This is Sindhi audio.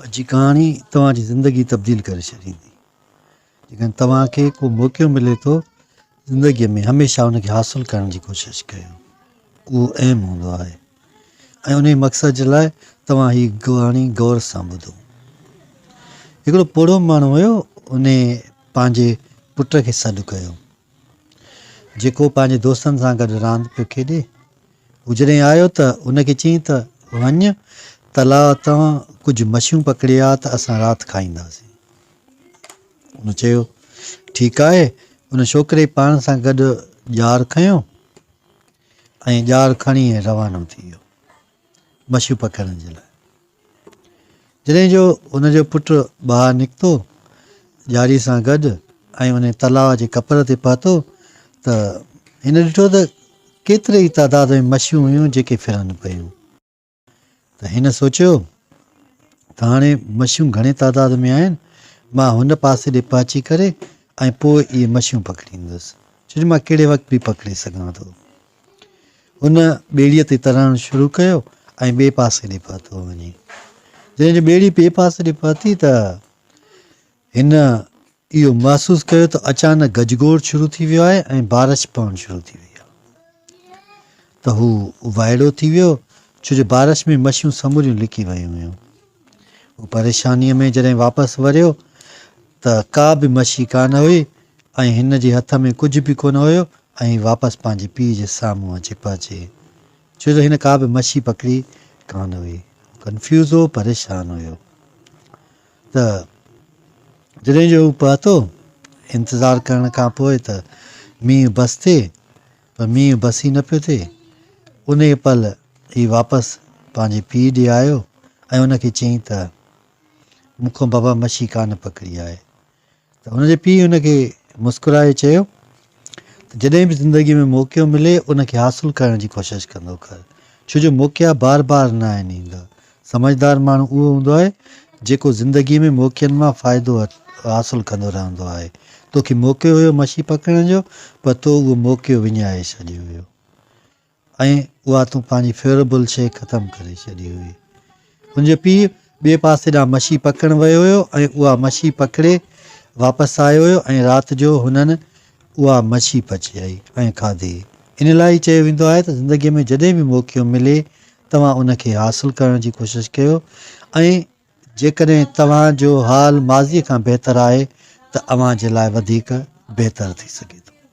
اڄ ڪهاڻي توهان جي زندگي تبديل ڪري ڇڏيندي. جيڪڏهن توهان کي ڪو موقعو ملي ٿو زندگي ۾ هميشه ان کي حاصل ڪرڻ جي ڪوشش ڪيو. اهو ايم هوندو آهي ۽ انهي مقصد جي لاء توهان هي ڪهاڻي غور سان ٻڌو. هڪڙو پوڙهو ماڻهو هيو ان پنهنجي پٽ کي سڏ ڪيو. جيڪو پنهنجي دوستن سان گڏ راند پيو کيڏي. هو جڏهن آيو ته هن کي چيائين ته وڃ تلاء تان ڪجهه مڇيون پڪڙي آ ته اسان رات کائينداسين. هن چيو ٺيڪ آهي. ان ڇوڪري پاڻ سان گڏ ڄار کنيو ۽ ڄار کڻي روانو ٿي ويو مڇيون پڪڙڻ جي لاء. جڏهن جو هن جو پٽ ٻاهر نڪتو، ڄاري سان گڏ، ۽ انهي تلاء جي ڪپر تي پهتو ته هن ڏٺو ته ڪيتري ئي تعداد ۾ مڇيون هيون جيڪي ڦرن پيون ته هن سوچيو ته هاڻي مڇيون گهڻي تعداد ۾ آهن، مان هن پاسي ڏي پهچي ڪري ۽ پوء اهي مڇيون پڪڙيندس، ڇو جو مان ڪهڙي وقت به پڪڙي سگهان ٿو. هن ٻيڙيء تي ترڻ شروع ڪيو ۽ ٻئي پاسي ڏي پهتو وڃي. جڏهن جو ٻيڙي ٻئي پاسي ڏي پهتي ته هن اهو محسوس ڪيو ته اچانڪ گجگوڙ شروع ٿي ويو آهي ۽ بارش پوڻ شروع ٿي وئي آهي ته هو وائڙو ٿي ويو ڇو جو بارش ۾ مڇيون سموريون لڪي ويون هيون. هو پريشانيء ۾ جڏهن واپس وريو ته ڪا به مڇي ڪانه هئي ۽ هن جي هٿ ۾ ڪجهه به ڪونه هيو ۽ واپس پنهنجي پيء جي سامهون اچي پهچي ڇو جو هن ڪا به مڇي پڪڙي ڪانه هئي. هو ڪنفيوز هو، پريشان هيو ته جڏهن جو هو پهتو، انتظار ڪرڻ کان پوء ته مينهن بس ٿئي پر مينهن بس ئي نه پيو ٿئي. انهيء پل هي واپس پنهنجي پيء ڏي آيو ۽ ان کي چيائين ته، مون کان بابا مڇي ڪانه پڪڙي آهي. ته ان جي پيء ان کي مسڪرائي چيو ته، جڏهن به زندگيء ۾ موقعو ملي، ان کي حاصل ڪرڻ جي ڪوشش ڪندو ڪر، ڇو جو موقعا بار بار نه آهن ايندا. سمجهدار ماڻهو اهو هوندو آهي، جيڪو زندگيء ۾ موقعن مان فائدو حاصل ڪندو رهندو آهي. توکي موقعو هيو مڇي پڪڙڻ جو، پر تو اهو موقعو وڃائي ڇڏيو هيو ۽ اها تون پنهنجي فيوربل شيء ختم ڪري ڇڏي هئي. هن جو پيء ٻئي پاسي ڏانهن مڇي پڪڙڻ ويو هيو ۽ اها مڇي پڪڙي واپس آيو هيو ۽ رات جو هنن اها مڇي پچائي ۽ کاڌي. ان لاء ئي چيو ويندو آهي ته زندگيء ۾ جڏهن به موقعو ملي توهان ان کي حاصل ڪرڻ جي ڪوشش ڪيو ۽ جيڪڏهن توهان جو حال ماضي کان بهتر آهي ته اوهان جي لاء وڌيڪ بهتر ٿي سگهي ٿو.